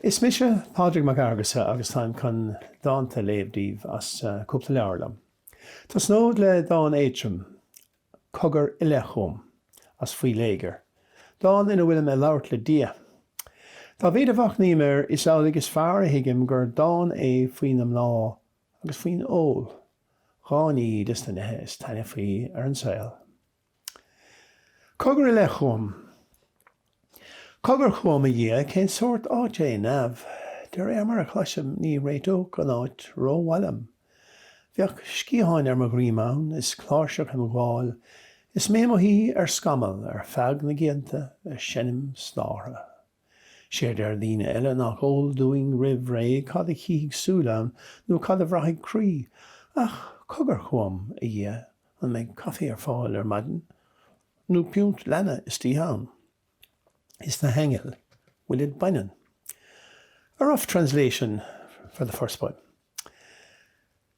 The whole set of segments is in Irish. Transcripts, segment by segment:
Is mise Pádraig Mac Fhearghusa agus táim chun dánta a léamh daoibh as cúpla leabhar liom. Tosnód le dán éadrom, Cogar i leith chugam, as Faoi Léigear, dán ina bhfuilim ag labhairt le Dia. Dá mhéid a mhachnaím air is amhlaidh is fearr a thuigim gur dán é faoi na mná agus faoin ól, dhá ní des na neithe is taitneamhaí ar an saol. Cogar i leith chugam. Cogar chugam, a Dhia, cén sórt áit é neamh? De réir mar a chloisim, ní réiteodh an áit rómhaith liom. Bheadh sciatháin ar mo dhroim ann, is cláirseach im ghabháil, is mé i mo shuí ar scamall ar feadh na gcianta, ag seinm stártha. Séard deir daoine eile nach eol dúinn roimh ré cad a chífidh súil ann nó cad a bhraithfidh croí. Ach cogar chugam, a Dhia, an mbeidh caife ar fáil ar maidin? Nó piúnt leanna istoíche ann? Is na haingil an bhfuilid baineann? A rough translation for the first poem.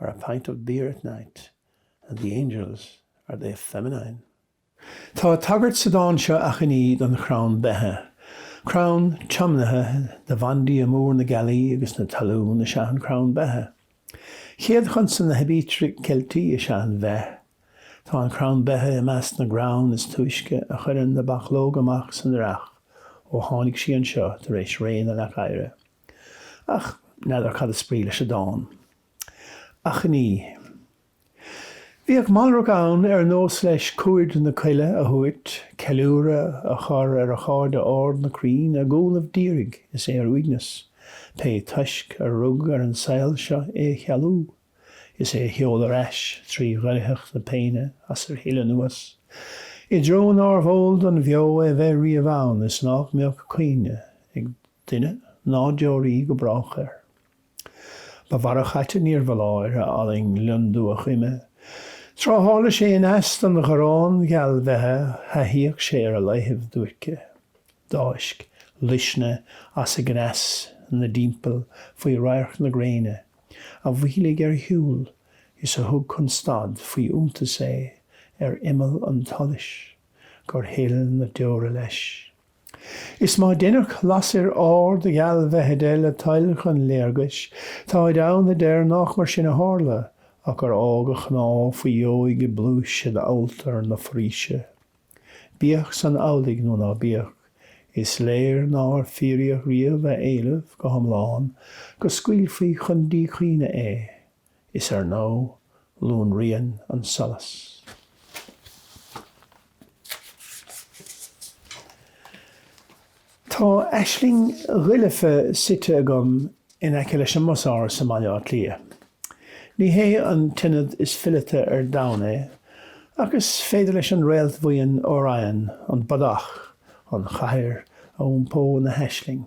or a pint of beer at night, and the angels, are they feminine? Tá tagairt sa dán seo Achainí don chrann beithe, crann tiomnaithe do bhandia mór na gealaí agus na talún is ea an crann beithe. Chéad chonsan na haibítre Ceiltí is ea an bheith. Tá an crann beithe i measc na gcrann is túisce a chuireann na bachlóga amach san earrach ó tháinig sí anseo tar éis ré na leac oighre. Ach n'fheadar cad is brí leis an dán. Achainí. Bhíodh malrach ann ar nós leis cuaird na coille a thabhairt, ceiliúradh a chur ar a chairde arda na crainn a gcúnamh d'iarraidh is é ar uaigneas, pé toisc a rug ar an saol seo é a chealú, is é a sheoladh ar ais trí dhoircheacht na péine as ar shil anuas, i dtreo nárbh eol don bheo é bheith riamh ann is nách mbeadh cuimhne ag. duine ná deoraí go brách air. Ba mhalrach ait é níorbh fholáir a fhallaing lionndubhach uime, tráth tharla sé i neas don gharrán gealbheithe thaithíodh sé ar a laethaibh duairce. D'fháisc luisne as a gcneas 'na dtímpall faoi radharc na gréine a mhoilligh ar a shiúl is a thug chun stad faoi iontas é ar imeall an tsolais gur shil na deora leis. Is má deineadh lasair árd ghealbheithe de le toil chun léargais, táid ann a deir nách mar sin a thárla, ach gur fhág a chnámha faoi dheoidh i bpluais in alltar na foraoise. Bíodh san amhlaidh nó ná bíodh, is léir nár fíoraíodh riamh a éileamh go hiomlán go scaoilfí chun díchuimhne é. is ar ndóigh lonraíonn an solas. Tá aisling dhoilfe suite agam in aice leis an mBusáras i mBaile Átha Cliath. Ní hé an t-ionad is fileata ar domhan é, ach is féidir leis an réaltbhuíon Orion, an Bodach, an chathair a iompó ina haisling.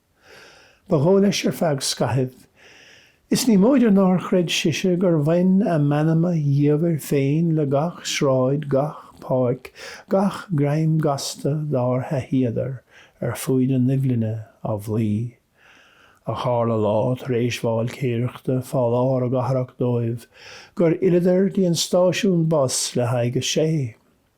Ba dhóigh leis ar feadh scaithimh. Is ní móide nár chreid sise gur bhain a meanma dhiamhair féin le gach sráid, gach páirc, gach greim gasta dár thaithíodar ar fuaid na Nuibhlinne á bhflaoi. Ach tharla lá tar éis válcaeireachta fá lár a gcathrach dóibh gur fhilleadar dtí an stáisiún bus le haghaidh a sé.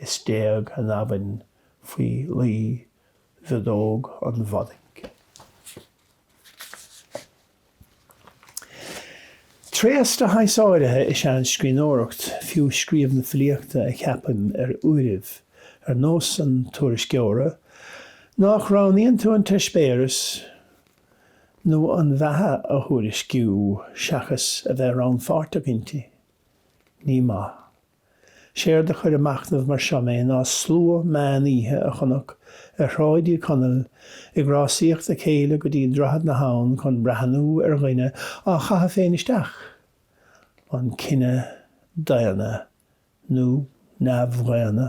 is d'éag an abhainn faoi lí mhiodóg an Bhodaigh. Tréas de shaghas áirithe is ea an scríbhneoireacht, fiú scríobh na filíochta a cheapaim ar uairibh, ar nós an tuairisceora, nach roghnaíonn tú an t-eispéireas nó an bheatha a thuairisciú seachas a bheith rannpháirteach inti. Ní maith. Séard a chuir ag machnamh mar seo mé ná slua meán oíche a chonac ar Shráid Uí Chonaill ag rásaíocht a chéile go dtí Droichead na hAbhann chun breathnú ar dhuine á chaitheamh féin isteach. An cine daonna nó neamhdhaonna?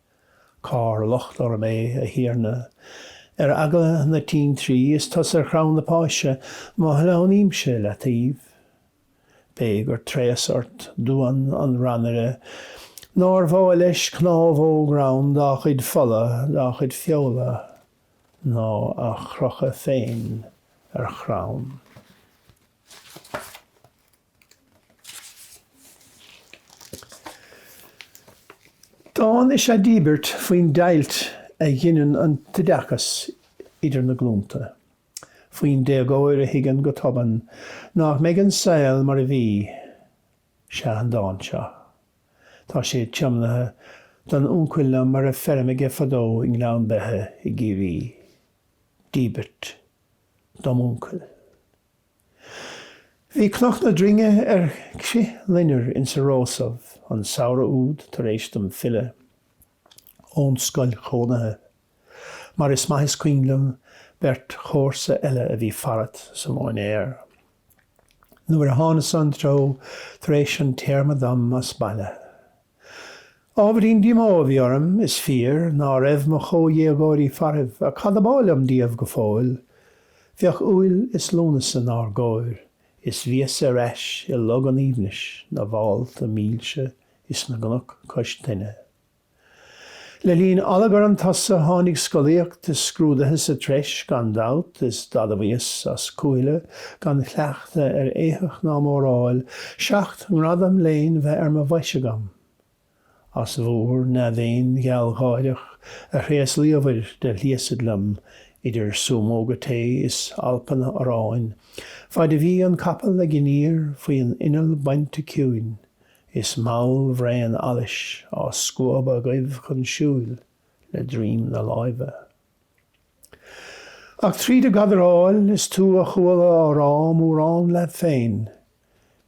Cár locht orm é, a Thiarna? Ar eagla na tintrí is tusa ar chrann na páise, má shleamhnaímse leataobh. B'é gur tréas ort, duan an rannaire, nár mhaith leis cnámhóg rann dá chuid fola, dá chuid feola, ná a chrochadh féin ar chrann. Dán is ea Díbirt faoin deighilt a ghineann an t-oideachas idir na glúnta, faoin déagóir a thuigeann go tobann nach mbeidh an saol mar a bhí. Sea, an dán seo. Tá sé tiomnaithe don uncail liom a raibh feirm aige fadó i nGleann Beithe i gCiarraí. Díbirt. dom uncail. Bhí Cnoc na Droinge ar crithloinnir insa rósamh an samhradh úd tar éis dom filleadh ón scoil chónaithe, mar is maith is cuimhin liom beirt chomharsa eile a bhí farat sa móinéar nuair a thánas-sa an treo tar éis an téarma dom as baile. Ábhairín díomá a bhí orm, is fíor, ná raibh mo chomhdhéagóirí faraibh, ach cad ab áil liom díobh go fóill? Bheadh Iúil is Lúnasa 'nár gcóir, is bhíos ar ais i Log an Aoibhnis na bhfálta mílse is na gcnoc cois tuinne. Le linn allagar an tsosa tháinig scolaíocht is scrúdaithe sa treis gan dabht is d'admhaíos as cúthaile gan chleachtadh ar éitheach ná móráil, seacht ngradam léinn bheith ar mo bhois agam. As bhúr ndea-mhéin ghealgháireach a thréaslaíobhair de shliasaid liom idir súmóga tae is alpanna aráin faid a bhí an capall ag iníor faoi an inneall bainte ciúin Is mall bhraon allais á scuabadh agaibh chun siúil le droim na láimhe. Ach tríd a' gcadaráil is tú a chuala á rá mórán leat féin,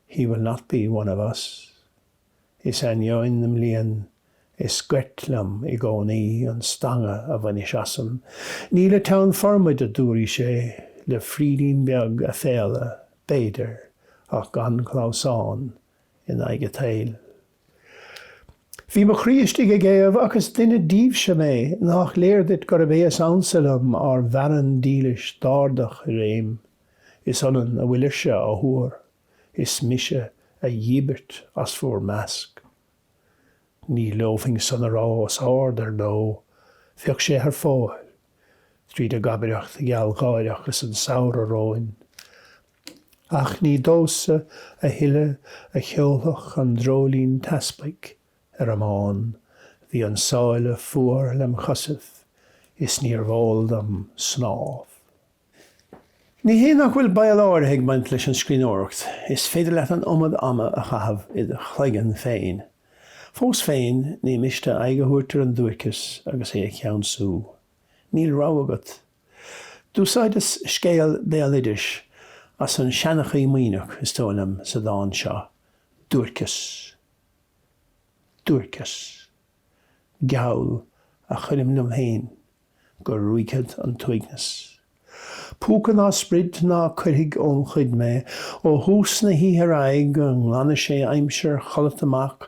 He will not be one of us. Is ainneoin na mblian is goirt liom i gcónaí an stangadh a bhainis asam. Ní le teann formaid, a dúraís é le frídín beag aiféala, b'fhéidir, ach gan clamhsán. in aghaidh a tsaoil. Bhí mo chroí istigh ag éamh ach is duine díbhse mé, nách léir duit gurab é is ansa liom, ár bhfearann dílis d'árdach i réim? Is ionann a bhfuilir-se á thuar is mise a dhíbirt as bhúr measc. Ní leomhfainn san a rá os árd ar ndó, bheadh sé thar fóir, tríd a' gcabaireacht ghealgháireach is an samhradh romhainn, Ach ní domhsa a thuilleadh a cheolfadh an dreoilín teaspaigh ar an mbán, bhí an sáile fuar lem' chosaibh is níorbh eol dom snámh. Ní hé nach bhfuil baol áirithe ag baint leis an scríbhneoireacht, is féidir leat an iomad ama a chaitheamh id' chloigeann féin. Fós féin, ní miste aghaidh a thabhairt ar an duairceas agus é a cheansú. Níl rogha agat D'úsáideas scéal béaloidis as An Seanchaí Muimhneach, is dóigh liom, sa dán seo, Duairceas, duairceas, geall a chuirim liom féin go ruaigfead an t-uaigneas. Púca ná sprid ná cuirfidh óm chuid mé, ó thús na hoíche ar aghaidh go nglanfaidh sé aimsir chodlata amach,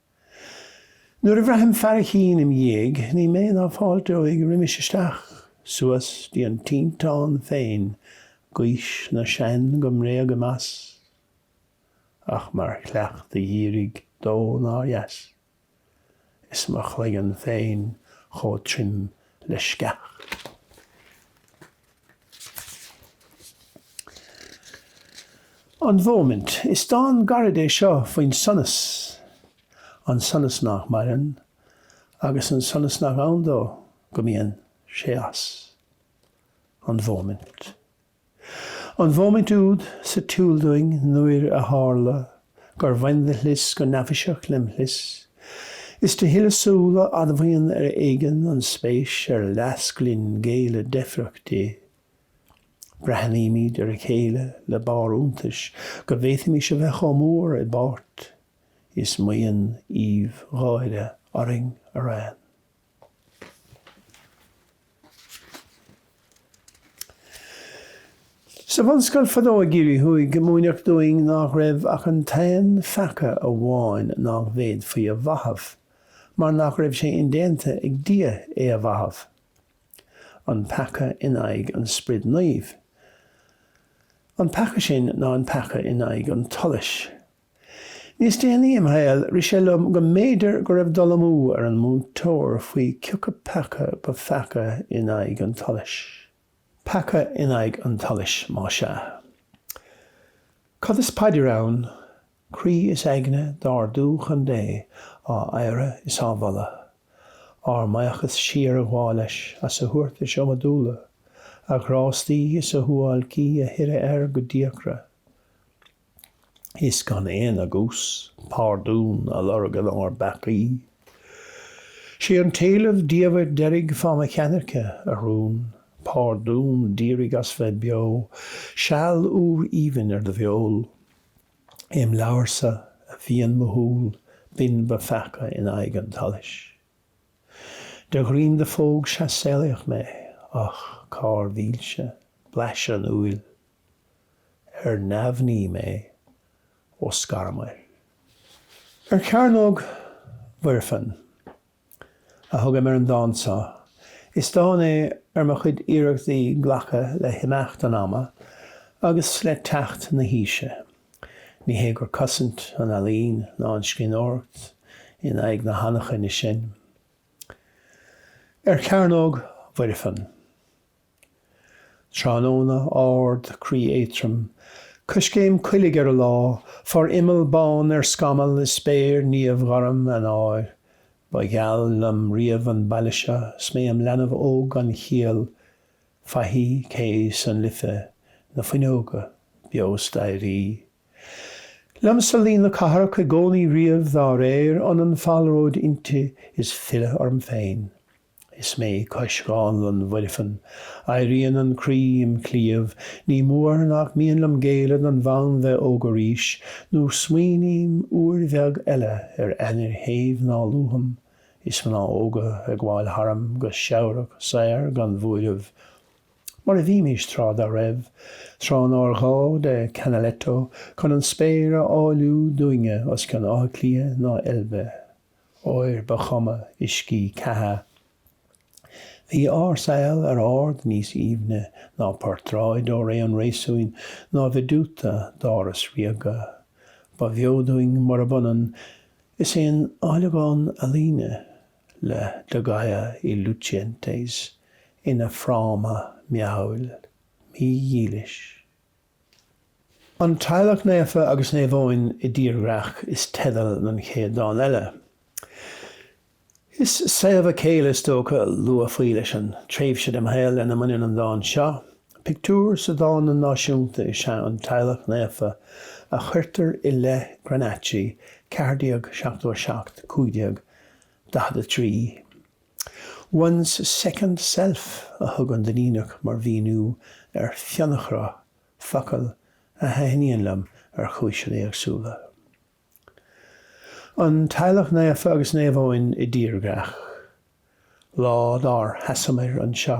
Nuair a bhraithim fearaichín im' dhiaidh, ní mé ná fáilteoidh roimis isteach, suas 'dtí an tinteán féin, gaois na sean go mbréagaim as, ach mar chleachtadh dhírigh dó nár dheas, is mo chloigeann féin chomh trim le sceach. An Mhóimint. Is dán gairid é seo faoin sonas, an sonas nach maireann agus an sonas nach ann dó go mbíonn sé as. An Mhóimint. An mhóimint úd sa tsiúl dúinn nuair a tharla. gur bhain do shlios go neafaiseach lem' shlios. Is de shilleadh súl a admhaíonn ar éigean an spéis ar leasc linn géilleadh deifreach di. Breathnaímid ar a chéile le barr iontais go bhféadfaimis a bheith chomh mór i bpáirt is maíonn aoibh gháire orainn araon. Sa bhunscoil fadó i gCiarraí Thuaidh, múineadh dúinn nách raibh ach an t-aon pheaca amháin nách bhféadfaí a mhaitheamh, mar nach raibh sé indéanta ag Dia é a mhaitheamh. An peaca in aghaidh an Sprid Naomh. An peaca sin ná an peaca in aghaidh an tsolais. Níos déanaí im shaol rith sé liom go mb'fhéidir go raibh dul amú ar an múinteoir faoi cioca peaca ba pheaca in aghaidh an tsolais. Peaca in aghaidh an tsolais, má sea. Cad is paidir ann? Croí is aigne d'ardú chun Dé á adhradh is á mholadh. Ár mbuíochas siar a ghabháil leis as a thabhartais iomadúla, a ghrástaí is a shuáilcí a shireadh air go díochra. is gan aon agús pardún a lorg in ár bpeacaí. Sé an t-éileamh diamhair deiridh fáth mo cheannairce, a rún, pardún d'iarraidh as bheith beo, seal úr aoibhinn ar do bheol. Im leabharsa a mhian mo shúil, b'in ba pheaca in aghaidh an tsolais. De dhroim do phóg sea saolaíodh mé, ach cár mhílse, blaiseadh an úill. ar neamhní mé ó scaramar. Ar Chearnóg Mhuirfean a thugaim ar an dán so. Is dán é ar mo chuid iarrachtaí glacadh le himeacht an ama agus le teacht na haoise. Ní hé gur cosaint an ealaín ná an scríbhneoireacht in aghaidh na hanachaine sin. Ar Chearnóg Mhuirfean. Tráthnóna ard, croí éadrom, coiscéim coiligh ar an lá, forimeall bán ar scamall i spéir niamhghorm Eanáir. Ba gheal liom riamh an baile seo is mé im leanbh óg gan chiall, faichí, cé is an Life, na fuinneoga beo, staighrí. Liomsa lí na cathrach i gcónaí riamh dá réir, ionann falróid inti is filleadh orm féin. Is mé cois Dhánlann Mhuirfean, éiríonn an croí im chliabh, Ní mór nach mian liom géilleadh don bhfonn bheith óg arís, Nó smaoiním uair bheag eile ar ainnir shéimh ná luafam, Is mná óga ag gabháil tharam go seabhrach saor gan bhuaireamh, Mar a bhímís tráth dá raibh, tráth nár ghá de Canaletto Chun an spéir a áilliú dúinne os cionn Átha Cliath ná Eilbe. óir ba chuma uiscí ceatha. Bhí ár saol ar ard níos aoibhne ná portráid ó ré an réasúin ná veduta d'áras ríoga. Ba bheo dúinn murab ionann is aon áilleagán ealaíne le de Goya y Lucientes ina fhráma meabhail, mídhílis. An Teaghlach Naofa agus Naomh Eoin i dTírdhreach is teideal don chéad dán eile. Is saobhadh céille is dócha a luafaí leis an tréimhse dem shaol lena mbaineann an dán seo. Pictiúr sa Dánlann Náisiúnta is ea an Teaghlach Naofa a chuirtear i leith Granacci, 1477, 1543. One's second self a thug an Duinníneach mar mhíniú ar fionnachruth, focal a thaitníonn liom ar chúiseanna éagsúla. An Teaghlach Naofa agus Naomh Eoin i dtírdhreach. Lá dár sheasamar anseo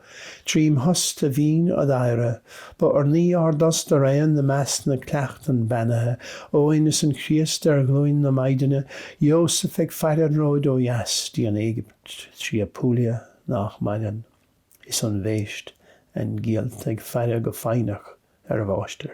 Trím thost a bhínn ad adhradh. Ba urnaí ár dtost araon i measc na gcleachtan beannaithe. Eoin is an Críost ar ghlúin na Maighdine, Ióseph ag faire an róid ó dheas dtí an Éigipt, trí Apulia nách maireann, is an bhéist, aingiallta, ag faire go foighneach ar a mháistir.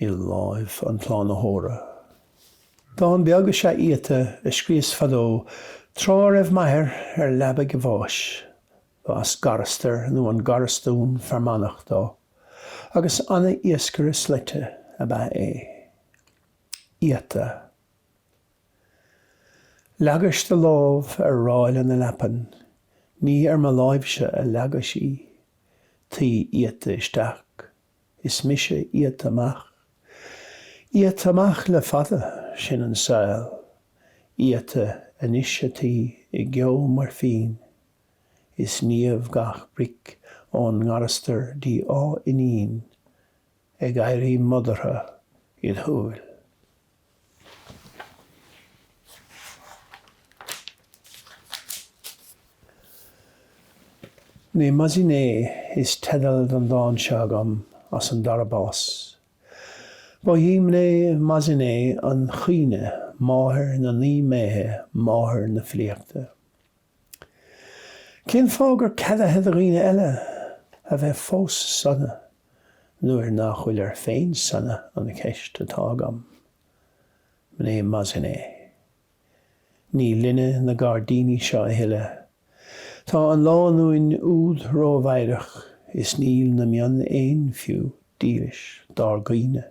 i láimh an tSlánaitheora. Dán beag is ea Iata a scríos fadó tráth a raibh m'athair ar leabaidh a bháis. B'as Garastar nó an Garastún Fear Manach dó agus an-iascaire slaite ab ea é. Iata. Leagais do lámh ar ráille na leapan, ní ar mo láimhse a leagais í. Taoi iata isteach Is mise iata amach. Iata amach le fada, sin an saol. Iata anois ataoi i gceo moirfín. Is niamh gach bric ón nGarastar dtí Áth Fhínín. Ag éirí modartha id shúil. Mnemosyne is teideal don dán seo agam as An Dara Bás. Ba í Mnemosyne an chuimhne, máthair na naoi mbéithe, máthair na filíochta. Cén fáth gur ceadaithe do dhaoine eile a bheith fós sona nuair nach bhfuil ar féin sona an cheist atá agam? Mné Maziné, Ní linne na gairdíní seo a thuilleadh. Tá an lánúin úd rómheidhreach is níl na mionn éin fiú dílis dár gcaoineadh.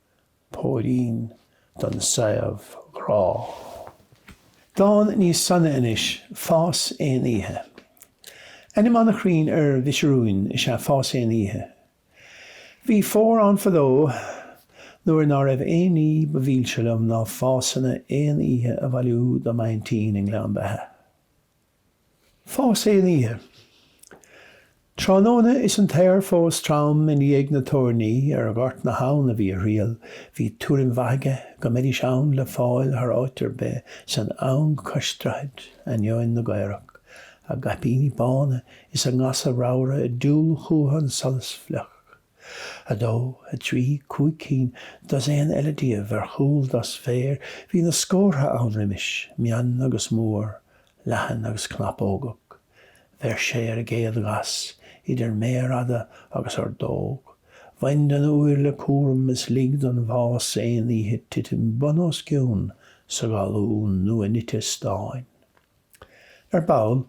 Póirín don saobhghrá. Dán níos sona anois, Fás aon oíche. Ainm an-chruinn ar mhuisiriúin is ea Fás aon oíche. Bhí fómhar ann fadó nuair ná raibh aon ní ba mhilse liom ná fásanna aon oíche a bhailiú do m'aintín i nGleann Beithe. Fás aon oíche. Tráthnóna is an t-aer fós trom i ndiaidh na toirní ar Ghort na hAbhann a bhí a thriall, bhí tuairim mhaith aige go mbeidís ann le fáil thar áit ar bith san eang cois droichid, ainneoin na gcaorach, a gcaipíní bána is a ngasa ramhra ag diúl chúthu an tsolais fliuch. A dó, a trí, cúig cinn, dosaen eile díobh ar chúl dos féir, bhí na scórtha ann roimis, mion agus mór, leathan agus cnapógach. Bheir sé ar an gcéad ghas, idir méar fhada agus ordóg. Bhain den úir le cúram is lig don bhfás aon oíche titim bun os cionn sa ghalún nua-nite stáin. Ar ball,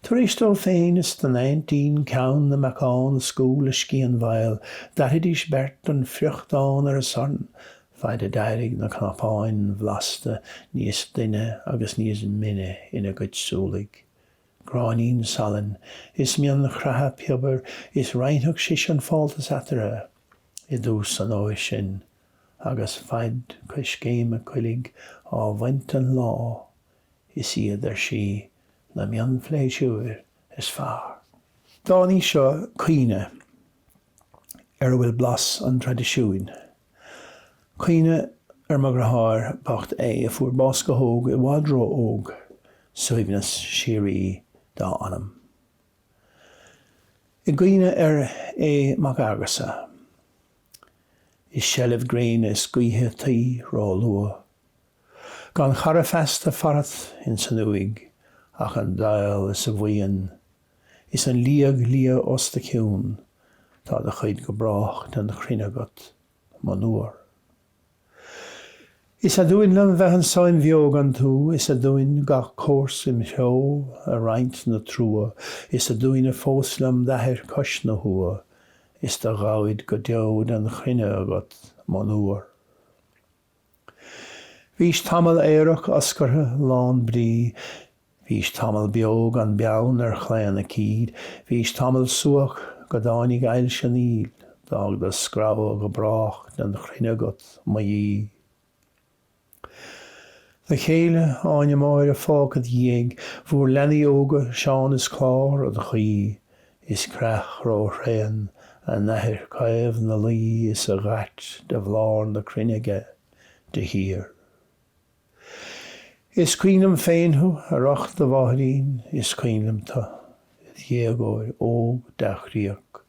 tar éis dó féin is don aintín ceann na mbeacán a scamhadh le scian mhaol, d'fhairidís beirt an friochtán ar an sorn, faid a d'éirigh na cnapáin bhlasta níos doinne agus níos mine ina gcuid súlaigh. Gráinín salainn is mionchroitheadh piobair is roinnfeadh sise an fáltas eatarthu, i dtús an fhómhair sin, agus faid coiscéime coiligh á bhaint den lá, Is iad ar sí na mionphléisiúir is fearr. Dán é seo caoineadh ar a bhfuil blas an traidisiúin. Caoineadh ar mo dheartháir bocht é a fuair bás go hóg i bhfad ró-óg, suaimhneas síoraí dá anam. I gcuimhne ar Aodh Mac Fhearghusa. I seilbh gréine is gaoithe taoi ró-luath Gan chara feasta farat ins an uaigh ach an daol is a bhuíon, Is an liag liath os do chionn, tá do chuid go brách den chruinne agat, monuar. Is aduain liom bheith anso im bheo gan tú, is aduain gach comharsa im threo ag roinnt na trua, Is aduain fós liom d'athair cois na huaighe, is do ghabhaid go deo den chruinne agat, monuar. Bhís tamall aerach oscartha lán brí, bhís tamall beo gan beann ar chlaon aicíd, bhís tamall subhach go dtáinig ailse an fhill, d'fhág do scrabha go brách den chruinne agat, mo dhíth. Do chéile, Áine Máire fágtha id dhiaidh, bhur leanaí óga Seán is Clár, á do chaoi, Is creach róthréan a n-athair caomh 'na luí is a dh'ait de bhlár na cruinne aige de shíor. Is cuimhin liom féin thú, ar ucht do mháithrín, is cuimhin liom tú, id dhéagóir óg dea-chroíoch,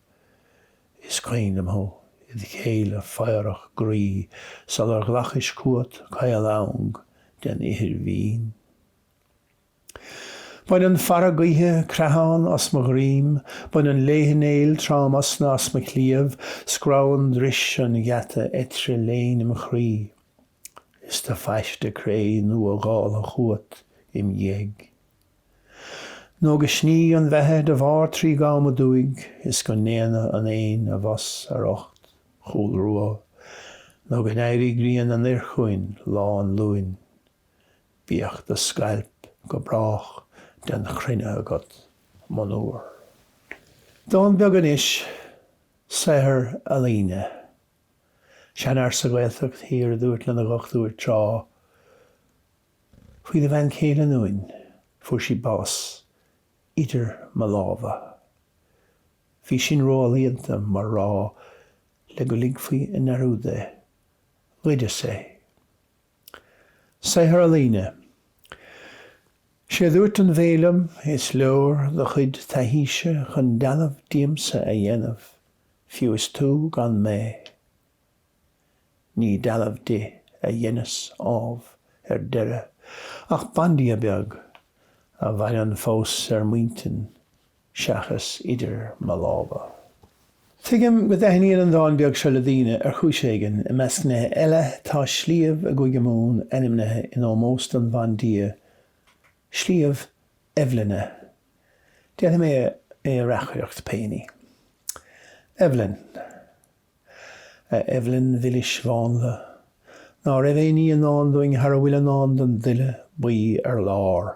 is cuimhin liom thú, id chéile fagharach groí sular ghlacais chughat caol eang den ithir mhín. Baineann fearadh gaoithe creathán as mo dhroim, baineann léithe néil tromosna as mo chliabh, scrabhann dris an gheata eitre léin im chroí. Is do phaiste cré nua dhála chughat im dhiaidh. Nó go sní an Bheithe de Bharr Trí gCom aduaidh is go ndéana an Fhéinn a bhfos ar ucht Chúl Rua nó go n-éirí grian anoir chugainn Lá an Luain. Bíodh do scailp go brách den chruinne agat, monuar. Dán beag anois, saothar ealaíne. Seanfhear sa Ghaeltacht thiar a dúirt lena dhochtúir tráth faoina bhean chéile ionúin, fuair sí bás, 'Idir mo lámha'. Bhí sin ró-ealaíonta mar rá le go ligfí i ndearúd é. Ghoideas é. Saothar ealaíne. 'Sé dúirt an bhé liom, 'Is leor do chuid taithíse chun dealbh díomsa a dhéanamh, fiú is tú gan mé. Ní dealbh di a dheineas, ámh, ar deireadh, ach bandia beag, a mhaireann fós ar m'intinn seachas idir mo lámha. Tuigim go dtaitníonn an dán beag seo le daoine ar chúis éigin. I measc nithe eile, tá sliabh i gCúige Mumhan ainmnithe in ómós don bhandia, Sliabh Eibhlinne. Déanfaidh mé é a reacaireacht péiní. Eibhlin. A Eibhlin mhilis mhánla, ná raibh aon ní i ndán dúinn thar a bhfuil i ndán don duille buí ar lár.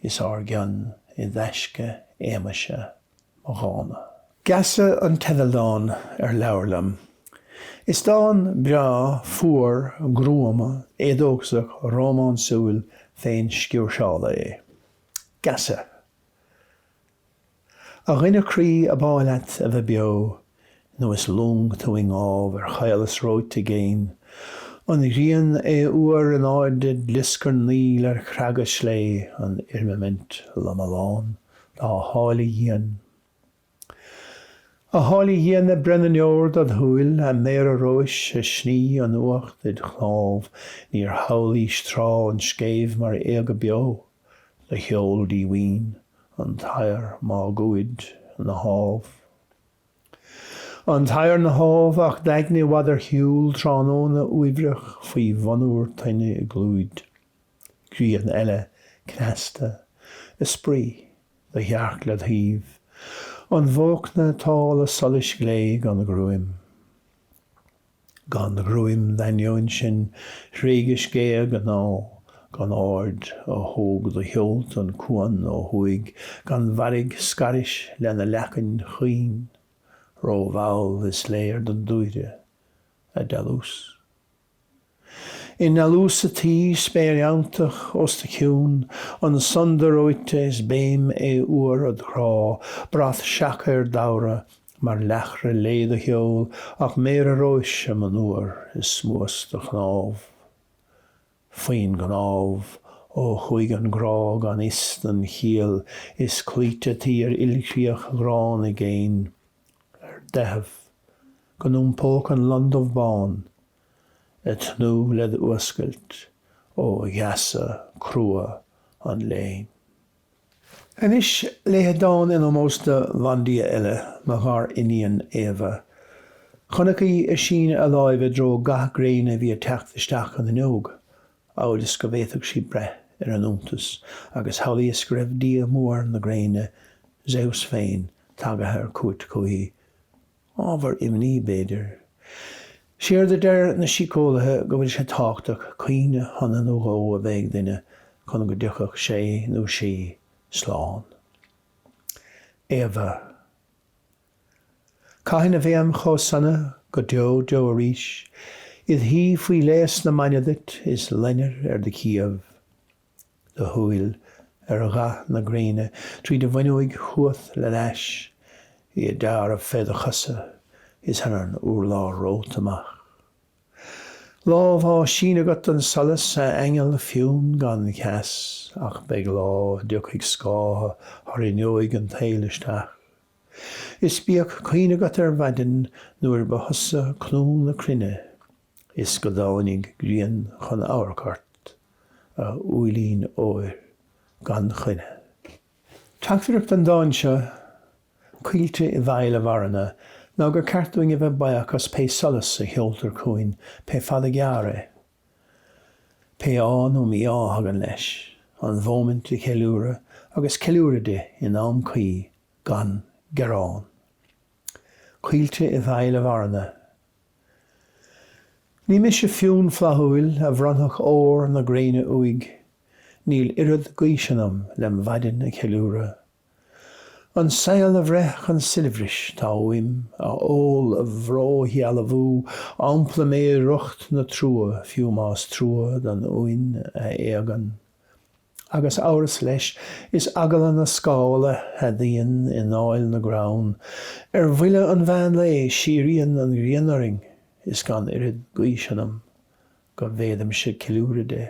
Is ár gcion i dtaisce éagmaise mo dhána. Geasa an teidealdán ar leabhar liom. Is dán breá, fuar, gruama, éadóchasach, rómánsúil, féin-sciúrseála é. Geasa. A dhuine croí ab áil leat a bheith beo Nó is long tú i ngábh ar chaolas reoite i gcéin An ghrian adhfhuar in airde glioscar Níl ar chreaga sléibhe an fhirmimint lomlán Dá háille dhian A háille dhian ag breith na ndeor dod shúil A méara róis ag sní an fhuacht id chnámh Níor shamhlaís tráth an scéimh mar éaga beo Is led sheol díomhaoin an t-aer máguaird ina thámh. An t-aer ina thámh ach d'aigne i bhfad ar shiúl tráthnóna uaibhreach faoi mhonabhar toinne i gclúid. Grian eile cneasta ag spraoi do shearc led thaobh. An bhóchna ag tál a solais ghlé gan ghruaim. Gan ghruaim d'ainneoin sin thréigis géag a ngnó, Gan aird ó thóg do sheolta an cuan ó thuaidh, Gan mhairg scairis lena leacain chaoin, Rómhall is léir don dúire, a dealús. I ndealús ataoi, spéir fheanntach os do chionn, An sunda reoite is béim adhfhuar od chrá, Brat seaca ar d'fhabhra Mar leathchruith léi do sheol ach méara róis am an uair i smuas do chnámh. Faoin gcnámh, ó chuaigh an grá gan fhios don chiall is cloíte taoi ar ilchríoch ghránna i gcéin. Ar do theitheadh go n-iompódh an lon dubh bán, ag tnúth le d'fhuascailt ó gheasa crua an léinn. Anois léifead dán in ómós do bhandia eile, mo ghariníon, Éabha. Chonac í ag síneadh a láimhe i dtreo gath gréine a bhí ag teacht isteach an fhuinneog, amhail is go bhféadfadh sí breith ar an iontas, agus shamhlaíos go raibh dia mór na gréine, Zeus féin, tagaithe ar cuairt chuichi. Ábhar imní, b'fhéidir. Séard a deir na síceolaithe go bhfuil sé tábhachtach cuimhne shona nó dhó a bheith ag duine chun go dtiocfadh sé nó sí slán. Éabha. Caithfidh ná beam chomh sona go deo deo arís, id shuí faoi léas na maidne duit is loinnir ar do chiabh. do shúil ar ghath na gréine tríd an bhfuinneoig chugat le d'ais í ag dealramh fé do chosa is ar an urlár romhat amach. Lámh á síneadh agat don solas, a aingeal fionn gan cheas, ach beidh lá a dtiocfaidh scáth thar fhuinneoig an tsaoil isteach. Is bíodh cuimhne agat ar mhaidin nuair ba thusa clú na cruinne. Is go dtáinig grian chun amharc ort, a úillín óir gan choinne. Teachtaireacht an dáin seo, Caoilte i bhfeighil a mharana, ná gur ceart dúinn a bheith baoch as pé solas a sheoltar chugainn, pé fada gearr é. Pé ádh nó mí-ádh a thagann leis. An mhóimint a cheiliúradh agus ceiliúradh di in am cuí, gan gearán. Caoilte i bhfeighil a mharana. Ní mise Fionn flaithiúil a bhronnfadh ór na gréine uaidh, níl oiread gaoise ionam lem mhaidin a cheiliúradh. An saol a bhreith chun soilbhris tá uaim, a ól a bhród a shealbhú, ampla mé i riocht na trua, fiú más trua don uain a éagann. Agus amhras leis, is eagla na scála a fhadaíonn i ndáil na gcrann. Ar bhuille an mheán lae síríonn an ghrian orainn is gan oiread gaoise ionam go bhféadaimse ceiliúradh de.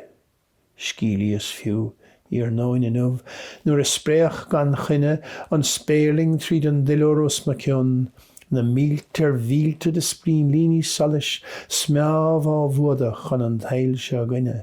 Sceimhlíos fiú, iarnóin inniu, nuair a spréach gan choinne an spéirling tríd an duilliúr os mo cionn, na mílte ar mhílte de sprínlíní solais smeámh á bhfuadach chun an tsaoil seo againne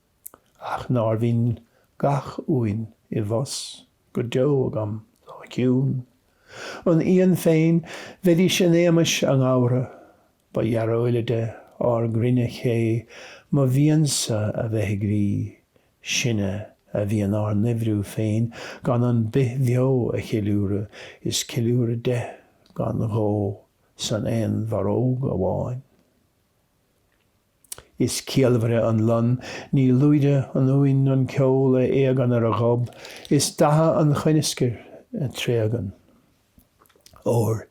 Ach nár bhinn gach uain i bhfus go deo agam dá ciúin an Fhiann féin bheidís in éagmais a nGabhra, ba dhearóilide ár gcruinne ché mo mhiansa a bheith groí, sinne a bhíonn ár n-oibriú féin gan an bith bheo a cheiliúradh, is ceiliúradh de gan ghó san aon bharróg amháin. Is ciallmhaire an lon, ní lúide an uain, an ceol a éagann ar a ghob, is datha an choineascair a tréagann. Óir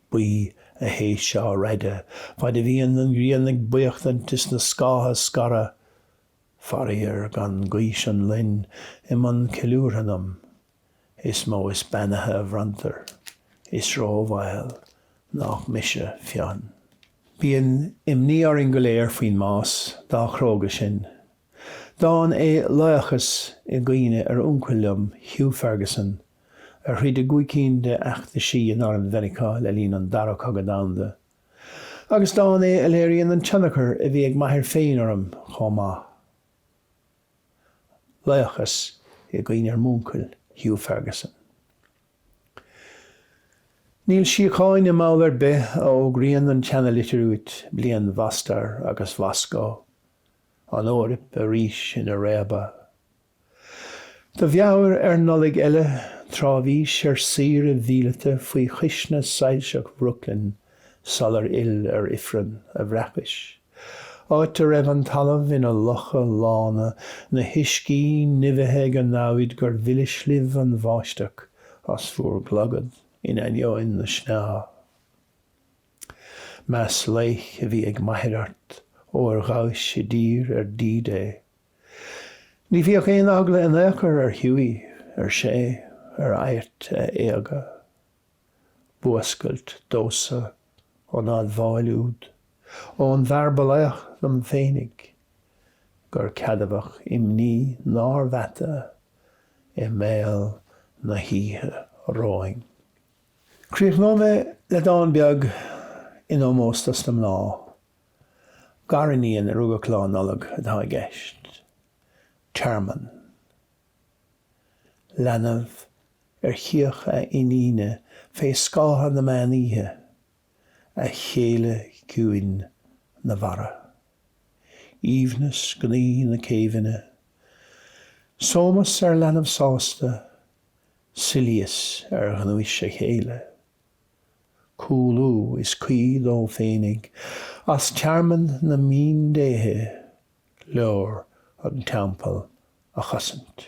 buí a shéis seo raide, faid a bhíonn an ghrian ag buíochtaint is na scátha ag scaradh, faraor gan gaois an loin i mbun ceiliúrtha ionam, Is mó is beannaithe a bhronntar. Is róbhaol nách mise Fionn. Bíonn imní orainn go léir faoin mbás, dá chróga sin. Dán é 'Laochas' i gcuimhne ar uncail liom, Hugh Ferguson, a throid i gcúig cinn de fheachtaisí in arm Mheiriceá le linn an Dara Cogadh Domhanda. Agus dán é a léiríonn an tionchar a bhí ag m'athair féin orm chomh maith. Laochas i gcuimhne ar m'úncail, Hugh Ferguson. Níl síocháin i mball ar bith a fhógraíonn an tseana-litir uait, bliain Mhostar agus Mhoscó, an Eoraip arís ina réabadh. Do mheabhair ar Nollaig eile, tráth bhís ar saoire mhíleata faoi chuisne soilseach Bhrooklyn sular fhill ar ifreann a bhreacais. Áit a raibh an talamh ina locha lána, na huiscí nimhithe ag an namhaid gur mhilis libh an bháisteach as bhur gclogad in ainneoin na sneá. Meas laoich a bhí ag m'athair ort, óir ghabhais i dtír ar D-Day. Ní bhíodh aon eagla in ao'chor ar Hughie, ar sé, ar adhairt a éaga. B'fhuascailt domhsa an admháil úd ón bhfear ba laoch dom féinig, gur ceadmhach imní nár mheata i mbéal na hoíche romhainn. Críochnóidh mé le dán beag in ómós dos na mná. Gariníon a rugadh Lá Nollag atá i gceist. Tearmann. leanbh ar chíoch a iníne fé scátha na meán oíche, a chéile ciúin ina bhfarradh, aoibhneas gnaoi na céibhfhinne, sómas ar leanbh sásta, soilíos ar ghnúis a chéile. Cúlú is caoi dó féinig as tearmann na míndéithe. leor an Teampall a chosaint.